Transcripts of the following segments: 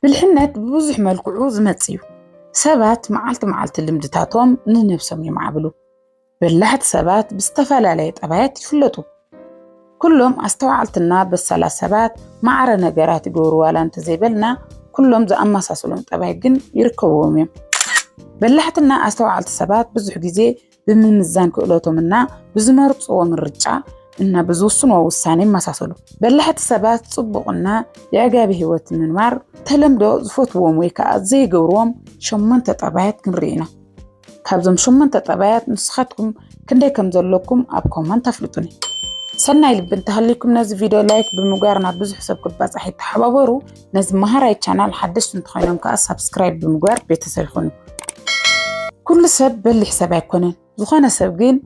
ብልሕነት ብብዙሕ መልክዑ ዝመጽእ እዩ። ሰባት መዓልቲ መዓልቲ ልምድታቶም ንነብሶም የማዕብሉ። በላሕቲ ሰባት ብዝተፈላለየ ጠባያት ይፍለጡ። ኩሎም ኣስተውዓልትና በሳላት ሰባት ማዕረ ነገራት ይገብሩ ዋላ እንተዘይበልና ኩሎም ዝኣመሳሰሎም ጠባይ ግን ይርከብዎም እዮም። በላሕትና ኣስተውዓልቲ ሰባት ብዙሕ ግዜ ብምምዛን ክእለቶም እና ብዝመርፅዎ ምርጫ እና ብዝውስንዎ ውሳኔ ይመሳሰሉ። በላሕቲ ሰባት ፅቡቕና የዕጋቢ ህይወት ምንባር ተለምዶ ዝፈትዎም ወይ ከዓ ዘይገብርዎም ሸሞንተ ጠባያት ክንርኢ ኢና። ካብዞም ሸሞንተ ጠባያት ንስኻትኩም ክንደይ ከም ዘለኩም ኣብ ኮመንት ኣፍልጡኒ። ሰናይ ልቢ እንተሃልይኩም ነዚ ቪድዮ ላይክ ብምግባር ናብ ብዙሕ ሰብ ክባፃሕ ይተሓባበሩ። ነዚ መሃራይ ቻናል ሓደሽቲ እንተኾይኖም ከዓ ሳብስክራይብ ብምግባር ቤተሰብ ይኹኑ። ኩሉ ሰብ በሊሕ ሰብ ኣይኮነን። ዝኾነ ሰብ ግን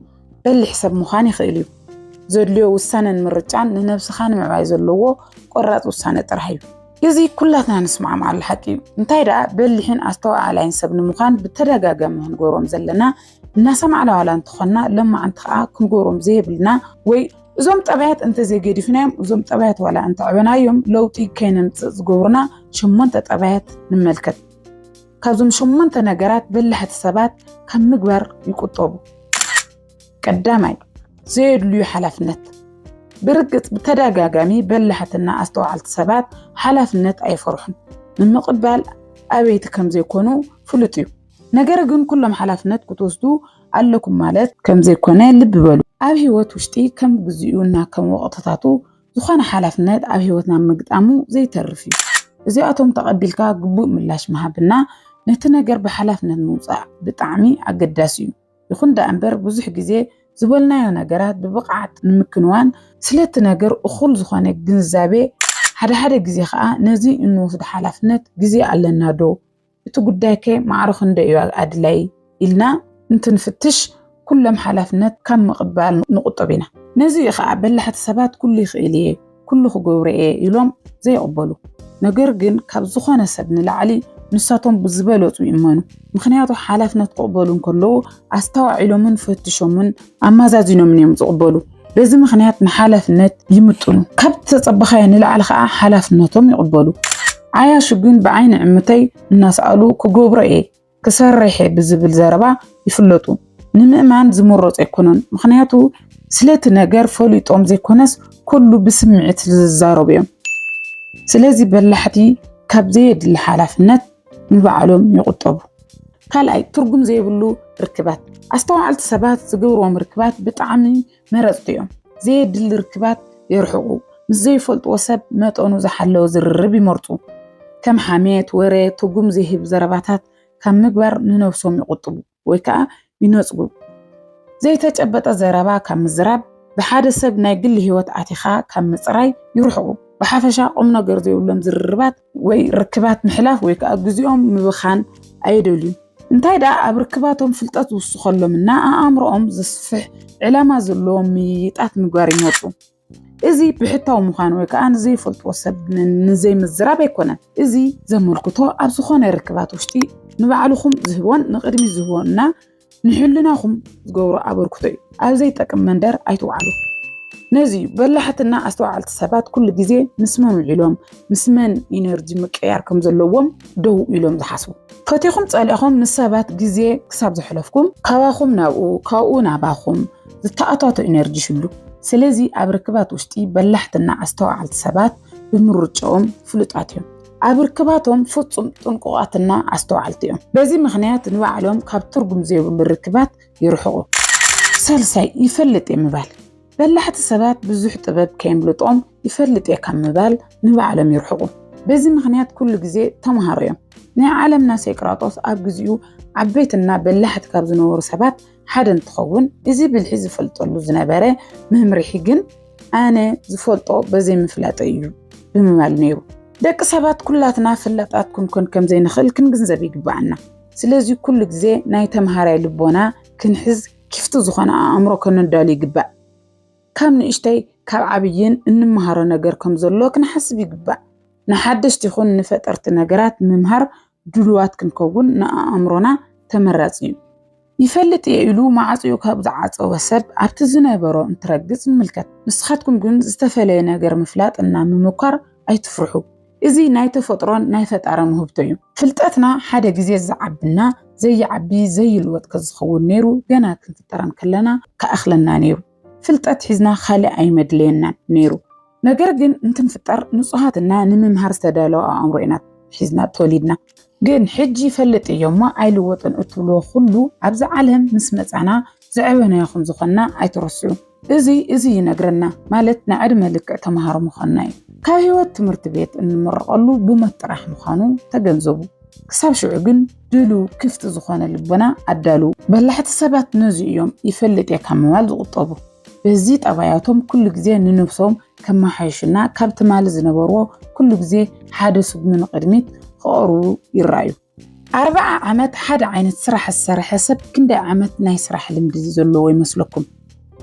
በሊሕ ሰብ ምዃን ይኽእል እዩ። ዘድልዮ ውሳነን ምርጫን ንነብስኻ ንምዕባይ ዘለዎ ቆራፅ ውሳነ ጥራሕ እዩ። እዚ ኩላትና ንስማዕማዓሉ ሓቂ እዩ። እንታይ ደኣ በሊሕን ኣስተዋዓላይን ሰብ ንምዃን ብተደጋጋሚ ክንገብሮም ዘለና እናሰማዕና ዋላ እንተኾንና ሎማዓንቲ ከዓ ክንገብሮም ዘይብልና ወይ እዞም ጠባያት እንተዘይገዲፍናዮም እዞም ጠባያት ዋላ እንተዕበናዮም ለውጢ ከይነምፅእ ዝገብሩና ሸሞንተ ጠባያት ንመልከት። ካብዞም ሸሞንተ ነገራት በላሕቲ ሰባት ካብ ምግባር ይቁጠቡ። ቀዳማይ ዘየድልዩ ሓላፍነት። ብርግፅ ብተደጋጋሚ በላሕትና ኣስተውዓልቲ ሰባት ሓላፍነት ኣይፈርሑን፣ ንምቕባል ኣበይቲ ከም ዘይኮኑ ፍሉጥ እዩ። ነገር ግን ኩሎም ሓላፍነት ክትወስዱ ኣለኩም ማለት ከም ዘይኮነ ልቢ በሉ። ኣብ ህይወት ውሽጢ ከም ግዜኡ እና ከም ወቕትታቱ ዝኾነ ሓላፍነት ኣብ ህይወትና ምግጣሙ ዘይተርፍ እዩ። እዚኣቶም ተቐቢልካ ግቡእ ምላሽ ምሃብና ነቲ ነገር ብሓላፍነት ምውፃእ ብጣዕሚ ኣገዳሲ እዩ። ይኹን ደኣ እምበር ብዙሕ ግዜ ዝበልናዮ ነገራት ብብቕዓት ንምክንዋን ስለቲ ነገር እኹል ዝኾነ ግንዛቤ ሓደ ሓደ ግዜ ከዓ ነዚ እንወስዶ ሓላፍነት ግዜ ኣለና ዶ እቲ ጉዳይ ከ ማዕረ ክንደይ እዩ ኣድላይ ኢልና እንትንፍትሽ ኩሎም ሓላፍነት ካብ ምቕባል ንቑጠብ ኢና። ነዚ እዩ ኸኣ በላሕቲ ሰባት ኩሉ ይኽእል እየ፣ ኩሉ ክገብሮ እየ ኢሎም ዘይቕበሉ። ነገር ግን ካብ ዝኾነ ሰብ ንላዕሊ ንሳቶም ብዝበለጹ ይእመኑ። ምኽንያቱ ሓላፍነት ክቕበሉ እንከለዉ ኣስተዋዒሎምን ፈትሾምን ኣማዛዚኖምን እዮም ዝቕበሉ። በዚ ምኽንያት ንሓላፍነት ይምጥኑ፣ ካብ ዝተጸበኻዮ ንላዕሊ ኸኣ ሓላፍነቶም ይቕበሉ። ዓያሹ ግን ብዓይኒ ዕምተይ እናሰኣሉ ክገብሮ እየ፣ ክሰርሕ እየ ብዝብል ዘረባ ይፍለጡ። ንምእማን ዝምረጹ ኣይኮነን፣ ምኽንያቱ ስለቲ ነገር ፈሊጦም ዘይኮነስ ኩሉ ብስምዒት ስለዝዛረቡ እዮም። ስለዚ በላሕቲ ካብ ዘየድሊ ሓላፍነት ንባዕሎም ይቑጠቡ። ካልኣይ ትርጉም ዘይብሉ ርክባት፣ ኣስተውዓልቲ ሰባት ዝገብርዎም ርክባት ብጣዕሚ መረፅቲ እዮም። ዘየድሊ ርክባት የርሕቑ፣ ምስ ዘይፈልጥዎ ሰብ መጠኑ ዝሓለወ ዝርርብ ይመርፁ። ከም ሓሜት፣ ወረ፣ ትርጉም ዘይህብ ዘረባታት ካብ ምግባር ንነብሶም ይቑጥቡ። ወይ ከዓ ይነፅጉ። ዘይተጨበጠ ዘረባ ካብ ምዝራብ፣ ብሓደ ሰብ ናይ ግሊ ህይወት ኣቲኻ ካብ ምፅራይ ይርሕቑ። ብሓፈሻ ቁም ነገር ዘይብሎም ዝርርባት ወይ ርክባት ምሕላፍ ወይ ከዓ ግዜኦም ምብኻን ኣይደልዩ። እንታይ ደኣ ኣብ ርክባቶም ፍልጠት ዝውስኸሎም እና ኣእምሮኦም ዘስፍሕ ዕላማ ዘለዎም ምይይጣት ምግባር ይመርፁ። እዚ ብሕታዊ ምዃን ወይ ከዓ ንዘይፈልጥዎ ሰብ ንዘይምዝራብ ኣይኮነን። እዚ ዘመልክቶ ኣብ ዝኾነ ርክባት ውሽጢ ንባዕልኹም ዝህቦን ንቕድሚት ዝህቦን እና ንሕልናኹም ዝገብሮ ኣበርክቶ እዩ። ኣብ ዘይጠቅም መንደር ኣይትውዓሉ። ነዚ እዩ በላሕትና ኣስተውዓልቲ ሰባት ኩሉ ግዜ ምስ መን ውዒሎም ምስ መን ኢነርጂ ምቅያር ከም ዘለዎም ደው ኢሎም ዝሓስቡ ፈቲኹም ጸሊእኹም ምስ ሰባት ግዜ ክሳብ ዘሕለፍኩም ካባኹም ናብኡ ካብኡ ናባኹም ዝተኣታቶ ኢነርጂ ሽሉ ስለዚ ኣብ ርክባት ውሽጢ በላሕትና ኣስተዋዓልቲ ሰባት ብምርጭኦም ፍሉጣት እዮም ኣብ ርክባቶም ፍጹም ጥንቁቓትና ኣስተዋዓልቲ እዮም በዚ ምክንያት ንባዕሎም ካብ ትርጉም ዘይብሉ ርክባት ይርሕቑ ሳልሳይ ይፈልጥ እየ ምባል በላሕቲ ሰባት ብዙሕ ጥበብ ከየምልጦም ይፈልጥ እየ ካብ ምባል ንባዕሎም ይርሕቑ በዚ ምክንያት ኩሉ ግዜ ተምሃሮ እዮም ናይ ዓለምና ሴቅራጦስ ኣብ ግዜኡ ዓበይትና በላሕቲ ካብ ዝነበሩ ሰባት ሓደ እንትኸውን እዚ ብልሒ ዝፈልጠሉ ዝነበረ መምርሒ ግን ኣነ ዝፈልጦ በዘይ ምፍላጠ እዩ ብምባል ነይሩ። ደቂ ሰባት ኩላትና ፈላጣት ክንኮን ከም ዘይንኽእል ክንግንዘብ ይግባኣና። ስለዚ ኩሉ ግዜ ናይ ተምሃራይ ልቦና ክንሕዝ ኪፍቲ ዝኾነ ኣእምሮ ከነዳሉ ይግባእ። ካብ ንእሽተይ ካብ ዓብይን እንመሃሮ ነገር ከም ዘሎ ክንሓስብ ይግባእ። ንሓደሽቲ ይኹን ንፈጠርቲ ነገራት ምምሃር ድሉዋት ክንከውን ንኣእምሮና ተመራጺ እዩ። ይፈልጥ እየ ኢሉ ማዕጽኡ ካብ ዝዓጸወ ሰብ ኣብቲ ዝነበሮ እንትረግጽ ንምልከት። ንስኻትኩም ግን ዝተፈለየ ነገር ምፍላጥ እና ምምኳር ኣይትፍርሑ። እዚ ናይ ተፈጥሮን ናይ ፈጣርን ውህብቶ እዩ። ፍልጠትና ሓደ ግዜ ዝዓብና ዘይዓቢ ዘይልወጥ ከዝኸውን ነይሩ ገና ክንፍጠር እንከለና ክኣኽለና ነይሩ። ፍልጠት ሒዝና ካልእ ኣይመድለየናን ነይሩ። ነገር ግን እንትንፍጠር ንጹሃት እና ንምምሃር ዝተዳለወ ኣእምሮ ኢና ሒዝና ተወሊድና። ግን ሕጂ ይፈልጥ እዮ እሞ ኣይልወጥን እትብልዎ ኩሉ ኣብዚ ዓለም ምስ መጻና ዝዐበናዮ ከም ዝኾንና ኣይትረስዑ። እዚ እዚ ይነግረና ማለት ንዕድመ ልክዕ ተማሃሮ ምዃንና እዩ። ካብ ህይወት ትምህርቲ ቤት እንምረቐሉ ብሞት ጥራሕ ምዃኑ ተገንዘቡ። ክሳብ ሽዑ ግን ድሉ ክፍቲ ዝኾነ ልቦና ኣዳልዉ። በላሕቲ ሰባት ነዚ እዮም ይፈልጥ እየ ካብ ምባል ዝቑጠቡ። በዚ ጠባያቶም ኩሉ ግዜ ንነብሶም ከመሓይሹና ካብ ትማሊ ዝነበርዎ ኩሉ ግዜ ሓደ ስጉሚ ንቕድሚት ክቐርቡ ይረኣዩ። ኣርብዓ ዓመት ሓደ ዓይነት ስራሕ ዝሰርሐ ሰብ ክንደይ ዓመት ናይ ስራሕ ልምዲ ዘለዎ ይመስለኩም?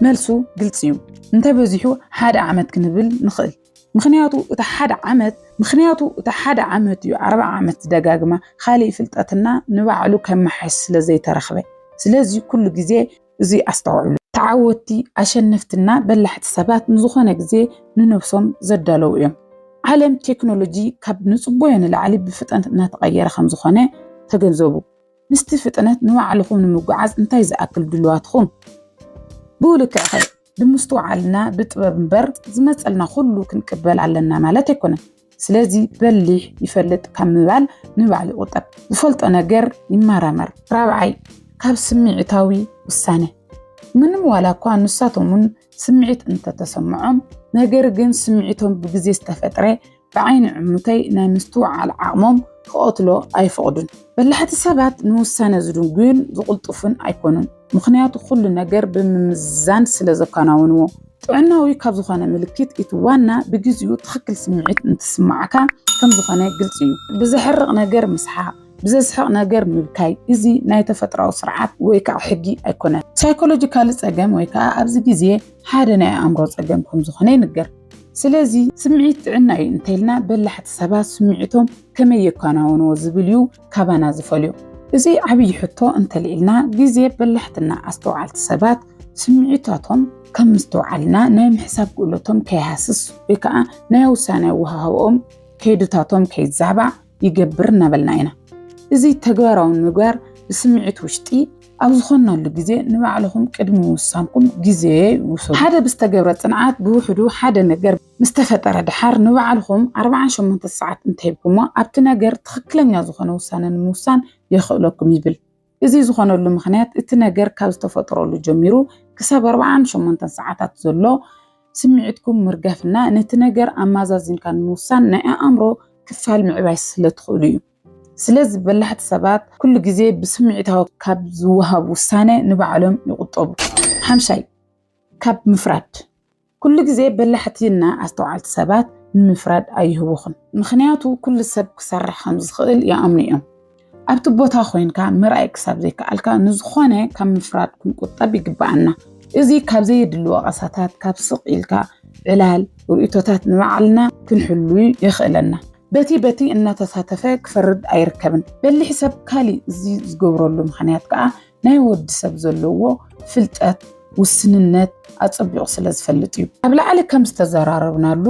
መልሱ ግልፂ እዩ። እንተበዚሑ ሓደ ዓመት ክንብል ንኽእል። ምኽንያቱ እቲ ሓደ ዓመት ምኽንያቱ እቲ ሓደ ዓመት እዩ ዓርባ ዓመት ደጋግማ ኻሊእ ፍልጠትና ንባዕሉ ከመሓይሽ ስለ ዘይተረኽበ ስለዚ ኩሉ ግዜ እዚ ኣስተውዕሉ። ተዓወትቲ፣ ኣሸነፍቲ እና በላሕቲ ሰባት ንዝኾነ ግዜ ንነብሶም ዘዳለዉ እዮም። ዓለም ቴክኖሎጂ ካብ ንጽቦዮ ንላዕሊ ብፍጥነት እናተቐየረ ከም ዝኾነ ተገንዘቡ። ምስቲ ፍጥነት ንባዕልኹም ንምጉዓዝ እንታይ ዝኣክል ድሉዋት ኢኹም? ብኡ ልክዕኸ ብምስትውዓልና ብጥበብ እምበር ዝመጸልና ኩሉ ክንቅበል ኣለና ማለት ኣይኮነን። ስለዚ በሊሕ ይፈልጥ ካብ ምባል ንባዕሉ ይቑጠብ። ዝፈልጦ ነገር ይመራመር። ራብዓይ ካብ ስምዒታዊ ውሳነ ምንም ዋላ እኳ ንሳቶምን ስምዒት እንተተሰምዖም ነገር ግን ስምዒቶም ብግዜ ዝተፈጥረ ብዓይኒ ዕሙተይ ናይ ምስትውዓል ዓቕሞም ክቐትሎ ኣይፈቕዱን። በላሕቲ ሰባት ንውሳነ ዝድንጉዩን ዝቕልጥፉን ኣይኮኑን፣ ምኽንያቱ ኩሉ ነገር ብምምዝዛን ስለ ዘከናውንዎ። ጥዕናዊ ካብ ዝኾነ ምልክት እቲ ዋና ብግዚኡ ትኽክል ስምዒት እንትስምዓካ ከም ዝኾነ ግልፂ እዩ። ብዘሕርቕ ነገር ምስሓቕ፣ ብዘስሕቕ ነገር ምብካይ እዚ ናይ ተፈጥራዊ ስርዓት ወይ ከዓ ሕጊ ኣይኮነን። ሳይኮሎጂካሊ ፀገም ወይ ከዓ ኣብዚ ግዜ ሓደ ናይ ኣእምሮ ፀገም ከም ዝኾነ ይንገር። ስለዚ ስምዒት ጥዕና እዩ እንተልና በላሕቲ ሰባት ስምዒቶም ከመይ የኳናውንዎ ዝብል እዩ ካባና ዝፈልዮ። እዚ ዓብዪ ሕቶ እንተልዒልና ግዜ በላሕትና ኣስተውዓልቲ ሰባት ስምዒታቶም ከም ምስትውዓልና ናይ ምሕሳብ ክእለቶም ከይሃስስ ወይ ከዓ ናይ ውሳነ ኣወሃህባኦም ከይድታቶም ከይዛባዕ ይገብር እናበልና ኢና። እዚ ተግባራዊ ንምግባር ብስምዒት ውሽጢ ኣብ ዝኾናሉ ግዜ ንባዕልኹም ቅድሚ ምውሳንኩም ግዜ ውሰዱ። ሓደ ብዝተገብረ ፅንዓት ብውሕዱ ሓደ ነገር ምስ ተፈጠረ ደሓር ንባዕልኹም ኣርብዓን ሸሞንተን ሰዓት እንተሂብኩሞ ኣብቲ ነገር ትኽክለኛ ዝኾነ ውሳነ ንምውሳን የኽእለኩም ይብል። እዚ ዝኾነሉ ምኽንያት እቲ ነገር ካብ ዝተፈጥረሉ ጀሚሩ ክሳብ ኣርብዓን ሸሞንተን ሰዓታት ዘሎ ስምዒትኩም ምርጋፍና ነቲ ነገር ኣማዛዚንካ ንምውሳን ናይ ኣእምሮ ክፋል ምዕባይ ስለትኽእሉ እዩ። ስለዚ በላሕቲ ሰባት ኩሉ ግዜ ብስምዒታዊ ካብ ዝወሃብ ውሳነ ንባዕሎም ይቑጠቡ። ሓምሻይ፣ ካብ ምፍራድ ኩሉ ግዜ በላሕቲ እና ኣስተውዓልቲ ሰባት ንምፍራድ ኣይህውኹን ምኽንያቱ ኩሉ ሰብ ክሰርሕ ከም ዝኽእል ይኣምኑ እዮም። ኣብቲ ቦታ ኮይንካ ምርኣይ ክሳብ ዘይከኣልካ ንዝኾነ ካብ ምፍራድ ክንቁጠብ ይግበኣና። እዚ ካብ ዘየድሊ ወቐሳታት ካብ ስቕ ኢልካ ዕላል ርእይቶታት ንባዕልና ክንሕሉ የኽእለና። በቲ በቲ እናተሳተፈ ክፈርድ ኣይርከብን። በሊሕ ሰብ ካሊእ እዚ ዝገብረሉ ምኽንያት ከኣ ናይ ወዲ ሰብ ዘለዎ ፍልጠት ውስንነት ኣጸቢቑ ስለ ዝፈልጥ እዩ። ኣብ ላዕሊ ከም ዝተዘራረብናሉ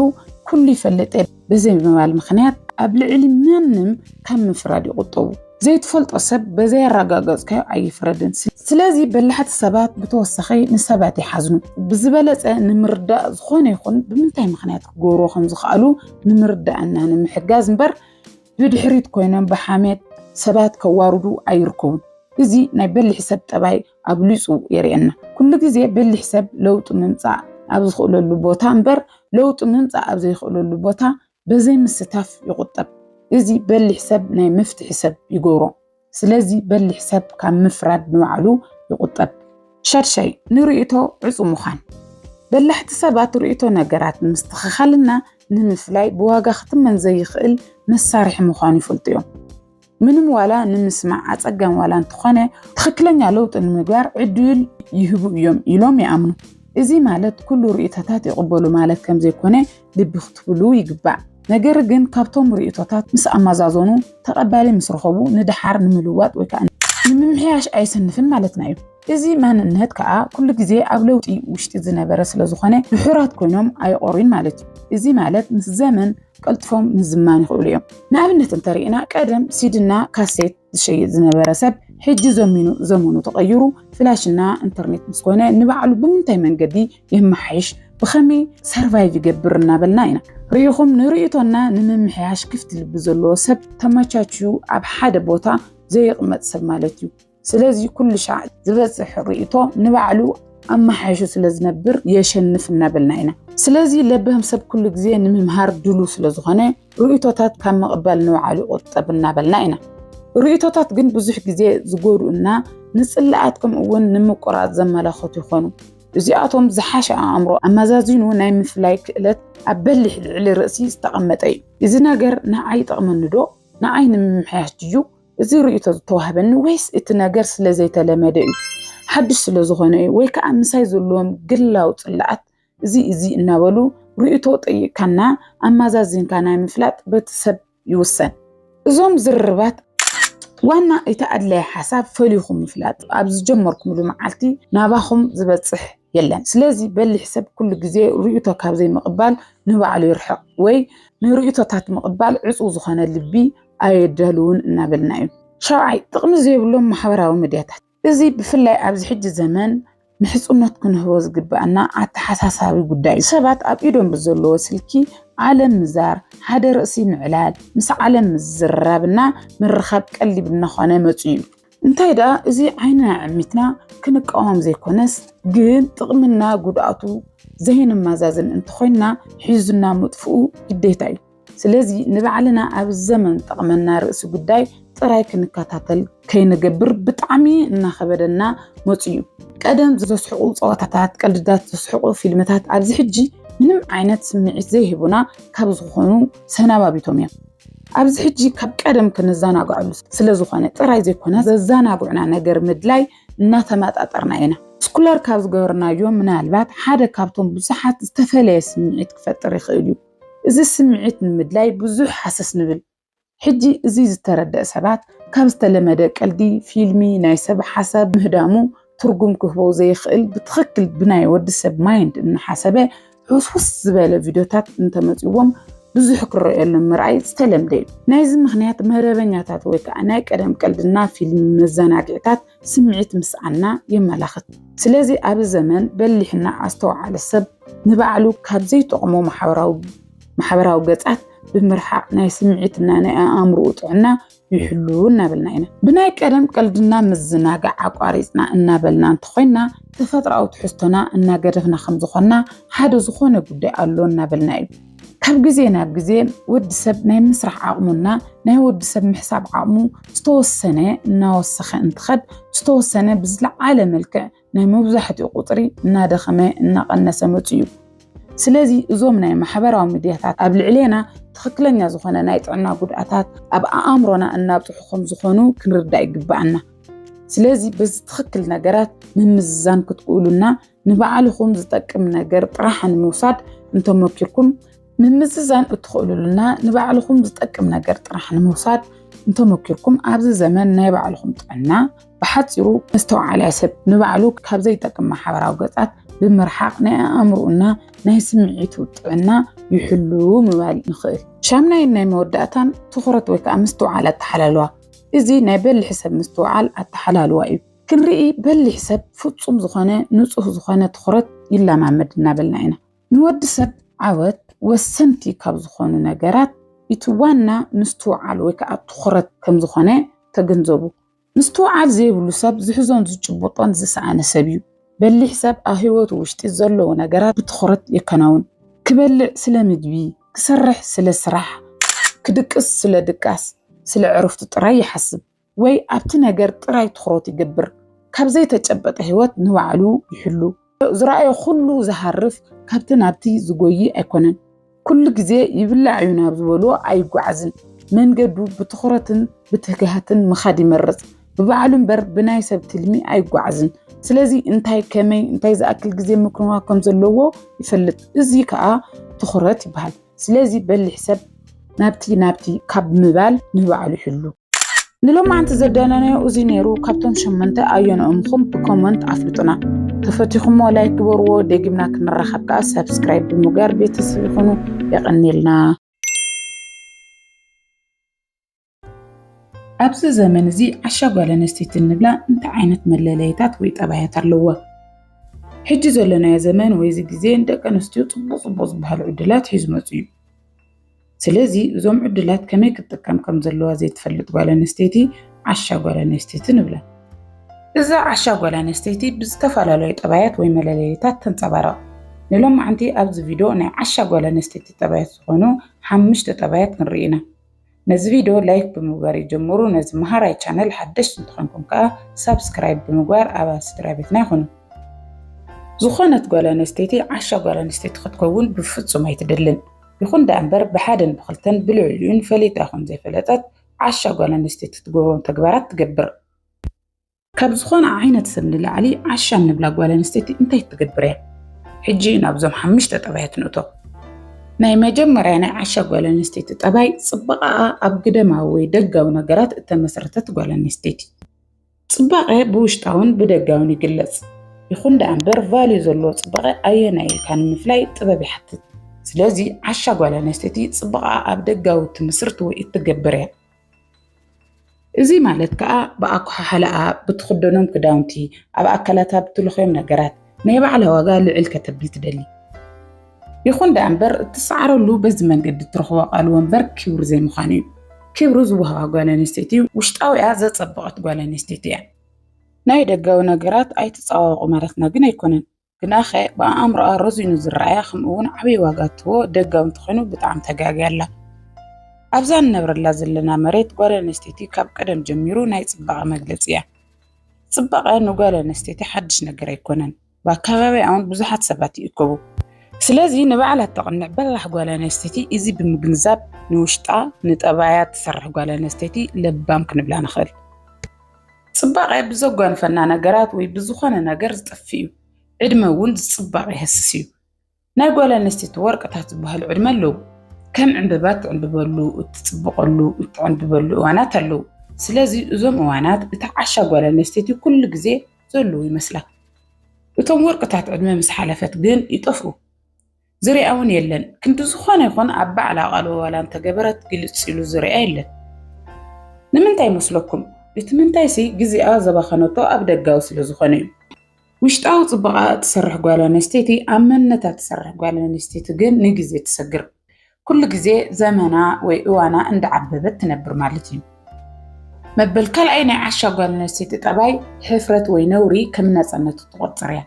ኩሉ ይፈልጥ እየ በዘይ ምባል ምኽንያት ኣብ ልዕሊ ማንም ካብ ምፍራድ ይቑጠቡ። ዘይትፈልጦ ሰብ በዘይ ኣረጋገጽካዮ ኣይፍረድን። ስለዚ በላሕቲ ሰባት ብተወሳኺ ንሰባት ይሓዝኑ። ብዝበለጸ ንምርዳእ ዝኾነ ይኹን ብምንታይ ምኽንያት ክገብርዎ ከም ዝኽኣሉ ንምርዳእ እና ንምሕጋዝ እምበር ብድሕሪት ኮይኖም ብሓሜት ሰባት ከዋርዱ ኣይርከቡን። እዚ ናይ በሊሕ ሰብ ጠባይ ኣብሊፁ የርእየና። ኩሉ ግዜ በሊሕ ሰብ ለውጢ ምምፃእ ኣብ ዝኽእለሉ ቦታ እምበር ለውጢ ምምፃእ ኣብ ዘይኽእለሉ ቦታ በዘይምስታፍ ይቑጠብ። እዚ በሊሕ ሰብ ናይ መፍትሒ ሰብ ይገብሮ። ስለዚ በሊሕ ሰብ ካብ ምፍራድ ንባዕሉ ይቑጠብ። ሻድሻይ፣ ንርእይቶ ዕጹው ምዃን። በላሕቲ ሰባት ርእይቶ ነገራት ንምስትኽኻልና ንምፍላይ ብዋጋ ክትመን ዘይኽእል መሳርሒ ምዃኑ ይፈልጡ እዮም። ምንም ዋላ ንምስማዕ ኣጸጋሚ ዋላ እንተኾነ ትኽክለኛ ለውጢ ንምግባር ዕድል ይህቡ እዮም ኢሎም ይኣምኑ። እዚ ማለት ኩሉ ርእይቶታት ይቕበሉ ማለት ከምዘይኮነ ልቢ ክትብሉ ይግባእ። ነገር ግን ካብቶም ርእቶታት ምስ ኣመዛዘኑ ተቐባሊ ምስ ረኸቡ ንደሓር ንምልዋጥ ወይ ከዓ ንምምሕያሽ ኣይስንፍን ማለትና እዩ። እዚ ማንነት ከዓ ኩሉ ግዜ ኣብ ለውጢ ውሽጢ ዝነበረ ስለ ዝኾነ ድሑራት ኮይኖም ኣይቆሩን ማለት እዩ። እዚ ማለት ምስ ዘመን ቀልጥፎም ምዝማን ይኽእሉ እዮም። ንኣብነት እንተሪእና ቀደም ሲድና ካሴት ዝሸይጥ ዝነበረ ሰብ ሕጂ ዘሚኑ ዘመኑ ተቐይሩ ፍላሽና ኢንተርኔት ምስ ኮነ ንባዕሉ ብምንታይ መንገዲ የመሓይሽ ብኸመይ ሰርቫይቭ ይገብር እናበልና ኢና ርኢኹም ንርእቶና ንምምሕያሽ ክፍቲ ልቢ ዘለዎ ሰብ ተመቻችዩ ኣብ ሓደ ቦታ ዘይቕመጥ ሰብ ማለት እዩ ስለዚ ኩሉ ሻዕ ዝበፅሕ ርእቶ ንባዕሉ ኣመሓይሹ ስለ ዝነብር የሸንፍ እናበልና ኢና ስለዚ ለበህም ሰብ ኩሉ ግዜ ንምምሃር ድሉ ስለ ዝኾነ ርእይቶታት ካብ ምቕባል ንባዕሉ ይቑጠብ እናበልና ኢና። ርእይቶታት ግን ብዙሕ ግዜ ዝጎድኡና ንጽላኣት ከምኡ'ውን ንምቁራጽ ዘመላኽቱ ይኾኑ። እዚኣቶም ዝሓሸ ኣእምሮ ኣመዛዚኑ ናይ ምፍላይ ክእለት ኣብ በሊሕ ልዕሊ ርእሲ ዝተቐመጠ እዩ። እዚ ነገር ንዓይ ይጠቕመኒ ዶ? ንዓይ ንምምሕያሽ ድዩ እዚ ርእይቶ ዝተዋህበኒ ወይስ እቲ ነገር ስለ ዘይተለመደ እዩ፣ ሓድሽ ስለ ዝኾነ እዩ፣ ወይ ከዓ ምሳይ ዘለዎም ግላዊ ጽላኣት እዚ እዚ እናበሉ ርእይቶ ጠይቅካና ኣማዛዚንካ ናይ ምፍላጥ በቲ ሰብ ይውሰን። እዞም ዝርርባት ዋና እቲ ኣድላይ ሓሳብ ፈሊኹም ምፍላጥ ኣብ ዝጀመርኩምሉ መዓልቲ ናባኹም ዝበጽሕ የለን። ስለዚ በሊሕ ሰብ ኩሉ ግዜ ርእይቶ ካብ ዘይምቕባል ንባዕሉ ይርሕቕ ወይ ንርእይቶታት ምቕባል ዕጹው ዝኾነ ልቢ ኣየዳልውን እናበልና እዩ። ሻውዓይ፣ ጥቕሚ ዘይብሎም ማሕበራዊ ሚድያታት። እዚ ብፍላይ ኣብዚ ሕጂ ዘመን ንሕጽኖት ክንህቦ ዝግባኣና ኣተሓሳሳቢ ጉዳይ እዩ። ሰባት ኣብ ኢዶም ብዘለዎ ስልኪ ዓለም ምዛር፣ ሓደ ርእሲ ምዕላል፣ ምስ ዓለም ምዝርራብና ምርኻብ ቀሊል እናኾነ መጺኡ እዩ። እንታይ ደኣ እዚ ዓይንና ኣዕሚትና ክንቃወም ዘይኮነስ ግን ጥቕምና ጉድኣቱ ዘይነመዛዝን እንተኾይንና ሒዙና ምጥፍኡ ግዴታ እዩ። ስለዚ ንባዕልና ኣብ ዘመን ጠቕመና ርእሲ ጉዳይ ጥራይ ክንከታተል ከይንገብር ብጣዕሚ እናኸበደና መፁ እዩ። ቀደም ዘስሕቑ ፀዋታታት፣ ቀልድታት፣ ዘስሕቑ ፊልምታት ኣብዚ ሕጂ ምንም ዓይነት ስምዒት ዘይህቡና ካብ ዝኾኑ ሰናባቢቶም እዮም። ኣብዚ ሕጂ ካብ ቀደም ክንዘናግዐሉ ስለዝኾነ ጥራይ ዘይኮነ ዘዘናግዑና ነገር ምድላይ እናተመጣጠርና ኢና። ስኩለር ካብ ዝገበርናዮ ምናልባት ሓደ ካብቶም ብዙሓት ዝተፈለየ ስምዒት ክፈጥር ይኽእል እዩ። እዚ ስምዒት ንምድላይ ብዙሕ ሃሰስ ንብል። ሕጂ እዚ ዝተረደእ ሰባት ካብ ዝተለመደ ቀልዲ ፊልሚ ናይ ሰብ ሓሳብ ምህዳሙ ትርጉም ክህቦ ዘይኽእል ብትኽክል ብናይ ወዲ ሰብ ማይንድ እናሓሰበ ሕውስውስ ዝበለ ቪድዮታት እንተመጽዎም ብዙሕ ክረኣየሎም ምርኣይ ዝተለምደ እዩ። ናይዚ ምኽንያት መረበኛታት ወይ ከዓ ናይ ቀደም ቀልድና ፊልሚ መዘናግዒታት ስምዒት ምስኣና የመላኽት። ስለዚ ኣብዚ ዘመን በሊሕና ኣስተውዓሊ ሰብ ንባዕሉ ካብ ዘይጠቕሞ ማሕበራዊ ገጻት ብምርሓቕ ናይ ስምዒትና ናይ ኣእምሮኡ ጥዕና ይሕሉ እናበልና ኢና ብናይ ቀደም ቀልድና ምዝናጋዕ ኣቋሪፅና እናበልና እንተኾይና ተፈጥራዊ ትሕዝቶና እናገደፍና ከም ዝኾንና ሓደ ዝኾነ ጉዳይ ኣሎ እናበልና እዩ ካብ ግዜ ናብ ግዜ ወዲ ሰብ ናይ ምስራሕ ዓቕሙና ናይ ወዲ ሰብ ምሕሳብ ዓቕሙ ዝተወሰነ እናወሰኸ እንትኸድ ዝተወሰነ ብዝለዓለ መልክዕ ናይ መብዛሕትኡ ቁፅሪ እናደኸመ እናቐነሰ መፁ እዩ። ስለዚ እዞም ናይ ማሕበራዊ ሚድያታት ኣብ ልዕሌና ትኽክለኛ ዝኾነ ናይ ጥዕና ጉድኣታት ኣብ ኣእምሮና እናብፅሑ ከም ዝኾኑ ክንርዳእ ይግባኣና። ስለዚ በዚ ትኽክል ነገራት ምምዝዛን ክትክእሉና ንባዕልኹም ዝጠቅም ነገር ጥራሕ ንምውሳድ እንተመኪርኩም ምምዝዛን እትኽእሉሉና ንባዕልኹም ዝጠቅም ነገር ጥራሕ ንምውሳድ እንተመኪርኩም ኣብዚ ዘመን ናይ ባዕልኹም ጥዕና ብሓፂሩ መስተውዓላይ ሰብ ንባዕሉ ካብ ዘይጠቅም ማሕበራዊ ገፃት ብምርሓቕ ናይ ኣእምሮኡና ናይ ስምዒቱ ጥዕና ይሕሉ ምባል ንኽእል። ሻምናይን ናይ መወዳእታን ትኹረት ወይ ከዓ ምስትውዓል ኣተሓላልዋ እዚ ናይ በልሒ ሰብ ምስትውዓል ኣተሓላልዋ እዩ። ክንርኢ በሊሕ ሰብ ፍፁም ዝኾነ ንፁህ ዝኾነ ትኹረት ይለማመድ እናበልና ኢና። ንወዲ ሰብ ዓወት ወሰንቲ ካብ ዝኾኑ ነገራት እቲ ዋና ምስትውዓል ወይ ከዓ ትኹረት ከም ዝኾነ ተገንዘቡ። ምስትውዓል ዘይብሉ ሰብ ዝሕዞን ዝጭብጦን ዝሰኣነ ሰብ እዩ። በሊሕ ሰብ ኣብ ህይወቱ ውሽጢ ዘለዉ ነገራት ብትኹረት የከናውን። ክበልዕ ስለ ምግቢ፣ ክሰርሕ ስለ ስራሕ፣ ክድቅስ ስለ ድቃስ፣ ስለ ዕረፍቱ ጥራይ ይሓስብ። ወይ ኣብቲ ነገር ጥራይ ትኹረት ይገብር፣ ካብ ዘይተጨበጠ ህይወት ንባዕሉ ይሕሉ። ዝረኣዮ ኩሉ ዝሃርፍ ካብቲ ናብቲ ዝጎይ ኣይኮነን። ኩሉ ግዜ ይብላዕ እዩ ናብ ዝበሎ ኣይጓዓዝን። መንገዱ ብትኹረትን ብትግሃትን ምኻድ ይመርጽ። ብባዕሉ እምበር ብናይ ሰብ ትልሚ ኣይጓዓዝን። ስለዚ እንታይ ከመይ እንታይ ዝኣክል ግዜ ምክንዋ ከም ዘለዎ ይፈልጥ። እዚ ከዓ ትኹረት ይበሃል። ስለዚ በሊሕ ሰብ ናብቲ ናብቲ ካብ ምባል ንባዕሉ ይሕሉ። ንሎማዓንቲ ዘዳለናዮ እዚ ነይሩ ካብቶም ሸመንተ ኣየንኦም ኹም ብኮመንት ኣፍልጡና ተፈቲኹሞ ላይክ ግበርዎ ደጊምና ክንራኸብ ከዓ ሰብስክራይብ ብምግባር ቤተሰብ ይኹኑ የቐኒልና ኣብዚ ዘመን እዚ ዓሻ ጓል ኣንስተይቲ እንብላ እንታይ ዓይነት መለለይታት ወይ ጠባያት ኣለዎ ሕጂ ዘለናዮ ዘመን ወይ እዚ ግዜ ንደቂ ኣንስትዮ ፅቡቅ ፅቡቅ ዝበሃሉ ዕድላት ሒዙ መፅኡ እዩ ስለዚ እዞም ዕድላት ከመይ ክትጥቀም ከም ዘለዋ ዘይትፈልጥ ጓል ኣንስተይቲ ዓሻ ጓል ኣንስተይቲ ንብላ። እዛ ዓሻ ጓል ኣንስተይቲ ብዝተፈላለዩ ጠባያት ወይ መለለይታት ተንጸባረቕ። ንሎማዕንቲ ኣብዚ ቪዶ ናይ ዓሻ ጓል ኣንስተይቲ ጠባያት ዝኾኑ ሓምሽተ ጠባያት ክንርኢ ኢና። ነዚ ቪዶ ላይክ ብምግባር ይጀምሩ፣ ነዚ መሃራይ ቻነል ሓደሽቲ እንተኾንኩም ከኣ ሳብስክራይብ ብምግባር ኣባል ስድራ ቤትና ይኹኑ። ዝኾነት ጓል ኣንስተይቲ ዓሻ ጓል ኣንስተይቲ ክትከውን ብፍጹም ኣይትደልን። ይኹን ደኣምበር ብሓደን ብኽልተን ብልዕሊኡን ፈሊጣ ይኹን ዘይፈለጠት ዓሻ ጓል ኣንስተይቲ ትገብሮም ተግባራት ትገብር። ካብ ዝኾነ ዓይነት ሰብ ንላዕሊ ዓሻ እንብላ ጓል ኣንስተይቲ እንታይ ትገብር እያ? ሕጂ ናብዞም ሓሙሽተ ጠባያት ንእቶ። ናይ መጀመርያ ናይ ዓሻ ጓል ኣንስተይቲ ጠባይ ጽባቐኣ ኣብ ግደማዊ ወይ ደጋዊ ነገራት እተመስረተት ጓል ኣንስተይቲ። ጽባቐ ብውሽጣውን ብደጋውን ይግለጽ። ይኹን ደኣ እምበር ቫልዩ ዘለዎ ጽባቐ ኣየናይ ኢልካ ንምፍላይ ጥበብ ይሓትት። ስለዚ ዓሻ ጓል ኣንስተይቲ ጽባቐኣ ኣብ ደጋዊ እትምስርት ወይ እትገብር እያ። እዚ ማለት ከዓ ብኣኳሓሕላኣ፣ ብትኽደኖም ክዳውንቲ፣ ኣብ ኣካላታ ብትልኽዮም ነገራት፣ ናይ ባዕላ ዋጋ ልዕል ከተብል ትደሊ። ይኹን ደኣ እምበር እትሰዓረሉ በዚ መንገዲ እትረኽቦ ኣቓልቦ እምበር ክብሪ ዘይምዃኑ እዩ። ክብሪ ዝወሃባ ጓል ኣንስተይቲ ውሽጣዊኣ ዘጸበቐት ጓል ኣንስተይቲ እያ። ናይ ደጋዊ ነገራት ኣይትጸባበቑ ማለትና ግን ኣይኮነን። ግናኸ ብኣእምሮኣ ረዚኑ ዝረኣያ ከምኡ እውን ዓብዪ ዋጋ እትህቦ ደጋዊ እንተኾይኑ ብጣዕሚ ተጋግያ ኣላ። ኣብዛ እንነብረላ ዘለና መሬት ጓል ኣንስተይቲ ካብ ቀደም ጀሚሩ ናይ ጽባቐ መግለጺ እያ። ጽባቐ ንጓል ኣንስተይቲ ሓድሽ ነገር ኣይኮነን። ብኣከባቢኣውን ብዙሓት ሰባት ይእከቡ። ስለዚ ንባዕላ እተቕንዕ በላሕ ጓል ኣንስተይቲ እዚ ብምግንዛብ ንውሽጣ ንጠባያ እትሰርሕ ጓል ኣንስተይቲ ለባም ክንብላ ንኽእል። ጽባቐ ብዘጓንፈና ነገራት ወይ ብዝኾነ ነገር ዝጠፍእ እዩ። ዕድመ እውን ዝጽባቕ የህስስ እዩ። ናይ ጓል ኣንስተይቲ ወርቅታት ዝበሃሉ ዕድመ ኣለዉ። ከም ዕንበባ እትዕንብበሉ፣ እትጽብቐሉ፣ እትዕንብበሉ እዋናት ኣለዉ። ስለዚ እዞም እዋናት እታ ዓሻ ጓል ኣንስተይቲ ኩሉ ግዜ ዘለዉ ይመስላ። እቶም ወርቅታት ዕድመ ምስ ሓለፈት ግን ይጠፍኡ። ዝርያ እውን የለን። ክንዲ ዝኾነ ይኹን ኣብ ባዕላ ቃል ዋላ እንተገበረት ግልጽ ኢሉ ዝርያ የለን። ንምንታይ ይመስለኩም? እቲ ምንታይሲ ግዜኣ ዘባኸነቶ ኣብ ደጋዊ ስለ ዝኾነ እዩ። ውሽጣዊ ጽባቐኣ እትሰርሕ ጓል ኣንስተይቲ ኣብ መንነታ እትሰርሕ ጓል ኣንስተይቲ ግን ንግዜ ትሰግር። ኩሉ ግዜ ዘመና ወይ እዋና እንዳዓበበት ትነብር ማለት እዩ። መበል ካልኣይ ናይ ዓሻ ጓል ኣንስተይቲ ጠባይ ሕፍረት ወይ ነውሪ ከም ናጽነት እትቆጽር እያ።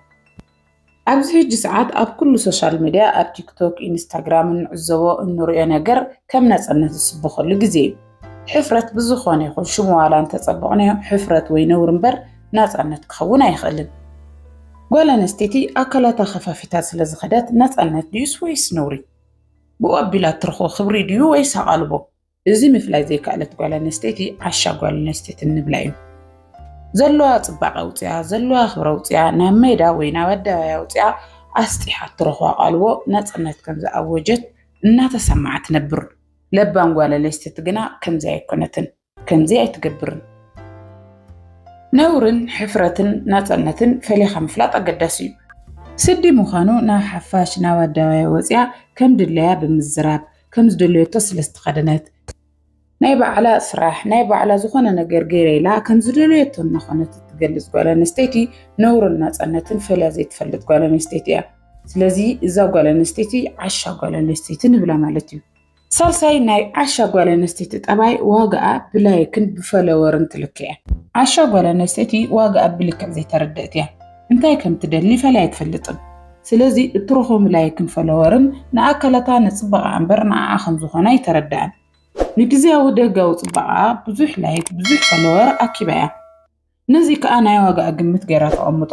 ኣብዚ ሕጂ ሰዓት ኣብ ኩሉ ሶሻል ሚድያ ኣብ ቲክቶክ ኢንስታግራም እንዕዘቦ እንሪኦ ነገር ከም ናጽነት ዝስበኸሉ ግዜ እዩ። ሕፍረት ብዝኾነ ይኹን ሽሙ ዋላ እንተጸበቕናዮ ሕፍረት ወይ ነውሪ እምበር ናጻነት ክኸውን ኣይኽእልን። ጓል ኣንስተይቲ ኣካላታ ከፋፊታ ስለ ዝኸደት ናጻነት ድዩስ ወይስ ነውሪ? ብኡ ኣቢላ እትረኽቦ ክብሪ ድዩ ወይስ ኣቓልቦ? እዚ ምፍላይ ዘይከኣለት ጓል ኣንስተይቲ ዓሻ ጓል ኣንስተይቲ እንብላ እዩ። ዘለዋ ጽባቐ ኣውጺኣ፣ ዘለዋ ክብሪ ኣውጺኣ፣ ናብ ሜዳ ወይ ናብ ኣደባባይ ኣውጺኣ ኣስጢሓ እትረኽቦ ኣቓልቦ ናጻነት ከም ዝኣወጀት እናተሰምዓ ትነብር። ለባም ጓል ኣንስተይቲ ግና ከምዚ ኣይኮነትን፣ ከምዚ ኣይትገብርን። ነውርን ሕፍረትን ናጸነትን ፈሊኻ ምፍላጥ ኣገዳሲ እዩ። ስዲ ምዃኑ ናብ ሓፋሽ ናብ ኣደባባይ ወጺኣ ከም ድላያ ብምዝራብ፣ ከም ዝደለየቶ ስለ ዝተኸደነት፣ ናይ ባዕላ ስራሕ፣ ናይ ባዕላ ዝኾነ ነገር ገይረ ኢላ ከም ዝደለየቶ እናኾነት እትገልጽ ጓል ኣንስተይቲ ነውርን ናጸነትን ፈልያ ዘይትፈልጥ ጓል ኣንስተይቲ እያ። ስለዚ እዛ ጓል ኣንስተይቲ ዓሻ ጓል ኣንስተይቲ ንብላ ማለት እዩ። ሳልሳይ ናይ ዓሻ ጓል ኣንስተይቲ ጠባይ ዋጋኣ ብላይክን ብፈለወርን ትልክዕ እያ። ዓሻ ጓል ኣንስተይቲ ዋጋኣ ብልክዕ ዘይተረድእት እያ። እንታይ ከም ትደሊ ፈላይ ኣይትፈልጥን። ስለዚ እትረኽቦም ላይክን ፈለወርን ንኣካላታ ንጽባቐ እምበር ንዓኣ ከም ዝኾነ ኣይተረድኣን። ንግዝያዊ ደጋዊ ጽባቐኣ ብዙሕ ላይክ ብዙሕ ፈለወር ኣኪባ እያ። ነዚ ከኣ ናይ ዋጋኣ ግምት ገይራ ተቐምጦ።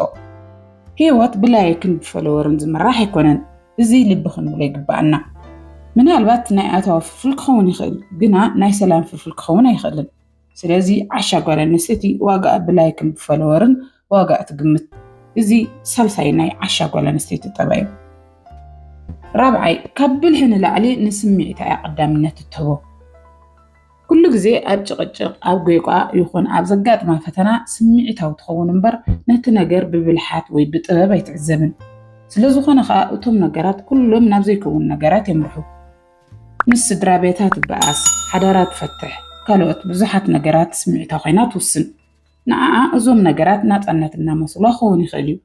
ህይወት ብላይክን ብፈለወርን ዝምራሕ ኣይኮነን፣ እዚ ልቢ ክንብሎ ይግበኣና። ምናልባት ናይ ኣታዊ ፍልፍል ክኸውን ይኽእል፣ ግና ናይ ሰላም ፍልፍል ክኸውን ኣይኽእልን። ስለዚ ዓሻ ጓል ኣንስተይቲ ዋጋኣ ብላይክን ብፈለወርን ዋጋኣ ትግምት። እዚ ሳልሳይ ናይ ዓሻ ጓል ኣንስተይቲ ጠባይ እዩ። ራብዓይ፣ ካብ ብልሒ ንላዕሊ ንስምዒታ እያ ቀዳምነት እትህቦ። ኩሉ ግዜ ኣብ ጭቕጭቕ፣ ኣብ ጐይቋ ይኹን ኣብ ዘጋጥማ ፈተና ስምዒታዊ ትኸውን እምበር ነቲ ነገር ብብልሓት ወይ ብጥበብ ኣይትዕዘብን። ስለ ዝኾነ ኸኣ እቶም ነገራት ኩሎም ናብ ዘይከውን ነገራት የምርሑ። ምስ ስድራቤታ ትበኣስ፣ ሓዳራ ትፈትሕ፣ ካልኦት ብዙሓት ነገራት ስምዒታ ኮይና ትውስን። ንዓኣ እዞም ነገራት ናጻነት እናመስሉዋ ክኸውን ይኽእል እዩ።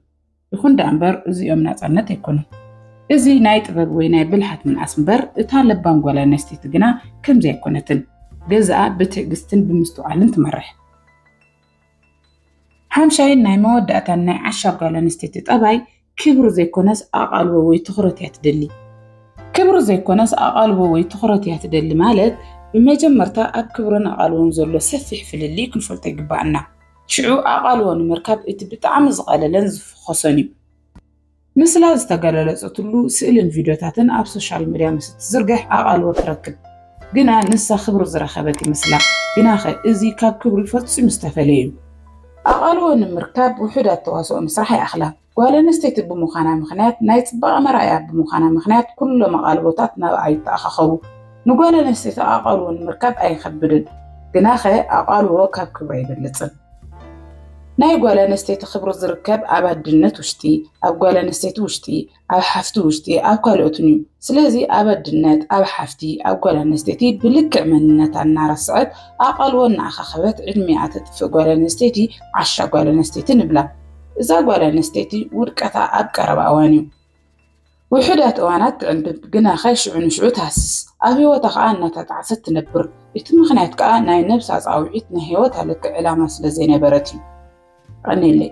ይኹን ደኣ እምበር እዚኦም ናፃነት ኣይኮኑን። እዚ ናይ ጥበብ ወይ ናይ ብልሓት ምንኣስ እምበር እታ ለባም ጓል ኣነስተይቲ ግና ከምዚ ኣይኮነትን። ገዛኣ ብትዕግስትን ብምስትውዓልን ትመርሕ። ሓምሻይን ናይ መወዳእታን ናይ ዓሻ ጓል ኣነስተይቲ ጠባይ ክብሪ ዘይኮነስ ኣቓልቦ ወይ ትኹረት እያ ትደሊ። ክብሪ ዘይኮነስ ኣቓልቦ ወይ ትኹረት እያ ትደሊ ማለት ብመጀመርታ ኣብ ክብርን ኣቓልቦን ዘሎ ሰፊሕ ፍልልይ ክንፈልጦ ይግባኣና። ሽዑ ኣቓልቦ ንምርካብ እቲ ብጣዕሚ ዝቐለለን ዝፍኾሰን እዩ። ምስላ ዝተገለለጸትሉ ስእልን ቪድዮታትን ኣብ ሶሻል መድያ ምስ እትዝርግሕ ኣቓልቦ ትረክብ። ግና ንሳ ክብሪ ዝረኸበት ይመስላ። ግናኸ እዚ ካብ ክብሪ ፈጺሙ ዝተፈልየ እዩ። ኣቓልቦ ንምርካብ ውሑዳት ተዋስኦ ምስራሕ ኣይኣኽላን። ጓል ኣንስተይቲ ብምዃና ምኽንያት ናይ ጽባቐ መርኣያ ብምዃና ምኽንያት ኩሎም ኣቓልቦታት ናብኣ ይተኣኻኸቡ። ንጓል ኣንስተይቲ ኣቓልቦ ንምርካብ ኣይኸብድን፣ ግናኸ ኣቓልቦ ካብ ክብሪ ኣይበልጽን። ናይ ጓል ኣንስተይቲ ክብሪ ዝርከብ ኣብ ኣድነት ውሽጢ፣ ኣብ ጓል ኣንስተይቲ ውሽጢ፣ ኣብ ሓፍቲ ውሽጢ፣ ኣብ ካልኦትን እዩ። ስለዚ ኣብ ኣድነት፣ ኣብ ሓፍቲ፣ ኣብ ጓል ኣንስተይቲ ብልክዕ መንነታ እናረስዐት ኣቓልቦ እናኣኻኸበት ዕድሚኣ ተጥፍእ ጓል ኣንስተይቲ ዓሻ ጓል ኣንስተይቲ ንብላ። እዛ ጓል ኣንስተይቲ ውድቀታ ኣብ ቀረባ እዋን እዩ። ውሑዳት እዋናት ትዕንብብ፣ ግናኸ ሽዑ ንሽዑ ትሃስስ፣ ኣብ ህይወታ ኸኣ እናተጣዕሰት ትነብር። እቲ ምኽንያት ከኣ ናይ ነብሳ ጻውዒት ናይ ህይወታ ልክዕ ዕላማ ስለ ዘይነበረት እዩ። ቀንየለይ።